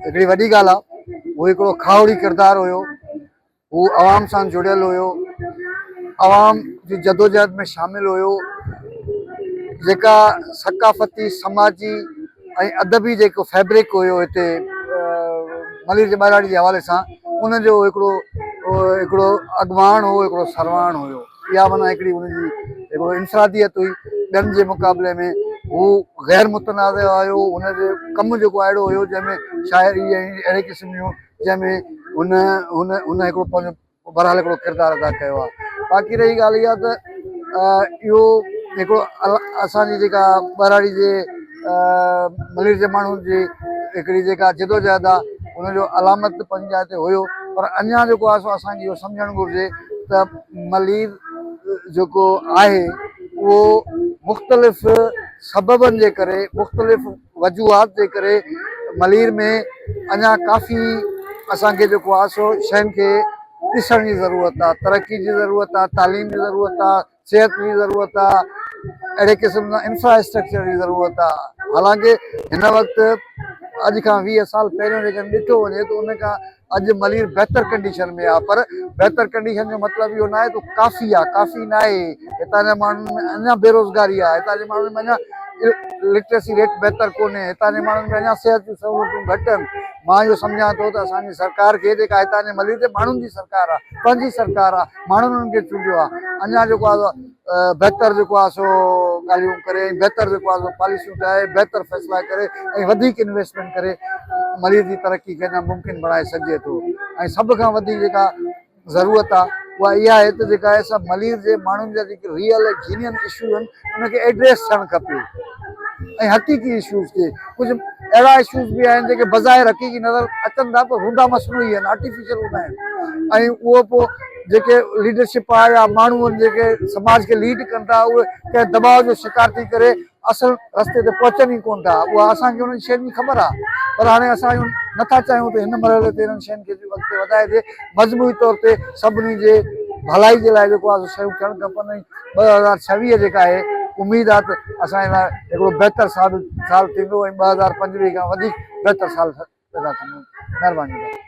هڪڙي وڏي ڳالهه آ هو هڪڙو کاهوڙي ڪردار هيو هو عوام سان جڙيل هيو عوام جي جدوجهد ۾ شامل هيو جيڪا ثقافتي سماجي ۽ ادبي جيڪو فيبرڪ هيو هتي ملير جي ٻهراڙي جي حوالي سان ان جو هڪڙو هڪڙو اڳواڻ هو هڪڙو سرواڻ هيو اها معنيٰ هڪڙي ان جي هڪڙو انفراديت هئي، ٻين جي مقابلي ۾ هو غير متنازع هيو، هن جو ڪم جيڪو اهڙو هيو جنهن ۾ شاعري ۽ اهڙي قسم جون جنهن ۾ هن هن هن هڪڙو پنهنجو بهرحال هڪڙو ڪردار ادا ڪيو آهي. باقي رهي ڳالهه اها ته اهو هڪڙو اسان جي جيڪا ٻهراڙي جي ملير جي ماڻهن جي هڪڙي جيڪا جدوجهد آهي ان جو علامت پنهنجي جاء تي هيو پر اڃان جيڪو آهي سو اسان کي اهو سمجهڻ گهرجي ته مريض جيڪو آهي اهو مختلف سببن جي ڪري مختلف وجوهات جي ڪري مريض ۾ اڃا ڪافي اسان کي جيڪو آهي سو شين کي ڏسڻ جي ضرورت آهي ترقي جي ضرورت آهي تعليم جي ضرورت آهي صحت جي ضرورت آهي اهڙي قسم سان انفراسٽرڪچر جي ضرورت آهي حالانڪه هن وقت اڄ کان ويهه سال پهريون جيڪڏهن ڏٺو وڃي ته ان کان اڄ ملير بهتر ڪنڊيشن ۾ آهي پر بهتر ڪنڊيشن جو مطلب اهو ناهي ته ڪافي آهي ڪافي ناهي هتان جي ماڻهن ۾ اڃا بيروزگاري آهي هتان جي ماڻهن ۾ اڃا لٽريسي ريٽ بهتر ڪونهي هتان جي ماڻهن ۾ اڃا صحت جون سهولتون گهٽ آهن مان اهو سمجهان ٿو ته اسان جي سرڪار کي جيڪا هتان جي ملير جي ماڻهن جي سرڪار آهي پنهنجي سرڪار آهي ماڻهن انهن کي چونڊيو آهي اڃا جيڪو آهي بهتر جيڪو آهي سو ڳالهيون ڪري ۽ بهتر جيڪو آهي سو پاليسيون ٺاهي بهتر فيصلا ڪري ۽ وڌيڪ انويسٽمينٽ ڪري ملير جي ترقي کي اڃا ممڪن بڻائي سگهجي ٿو ۽ سڀ کان وڌيڪ جيڪا ضرورت آهي اها اها آهي ته جيڪا اسان ملير جي ماڻهن جا جيڪي ريئل جينين اشو آهن ان کي ايڊريس ٿيڻ کپي ۽ حقيقي اشوز کي. ڪجهه اهڙا اشوز به آهن جيڪي بظاهر حقيقي نظر اچن ٿا پر هوندا مصنوعي آهن، آرٽيفيشل هوندا آهن ۽ اهو پوء جيڪي ليڊرشپ آهي يا ماڻهو آهن جيڪي سماج کي ليڊ ڪن ٿا اهي ڪنهن دٻاء جو شڪار ٿي ڪري اصل رستي تي پهچن ئي ڪونه ٿا اها اسان کي انهن شين جي خبر آهي پر هاڻي اسان اهو نٿا چاهيون ته هن مرحلي تي انهن شين کي به اڳتي وڌائجي مجموعي طور تي سڀني جي ڀلائي جي لاء جيڪو آهي سو شيون ٿيڻ کپن ۽ ٻه هزار ڇويهه جيڪا آهي اميد آهي ته اسان جي لاء هڪڙو بهتر سال سال ٿيندو ۽ ٻه هزار پنجويهه کان وڌيڪ بهتر سال پيدا ٿيندو مهرباني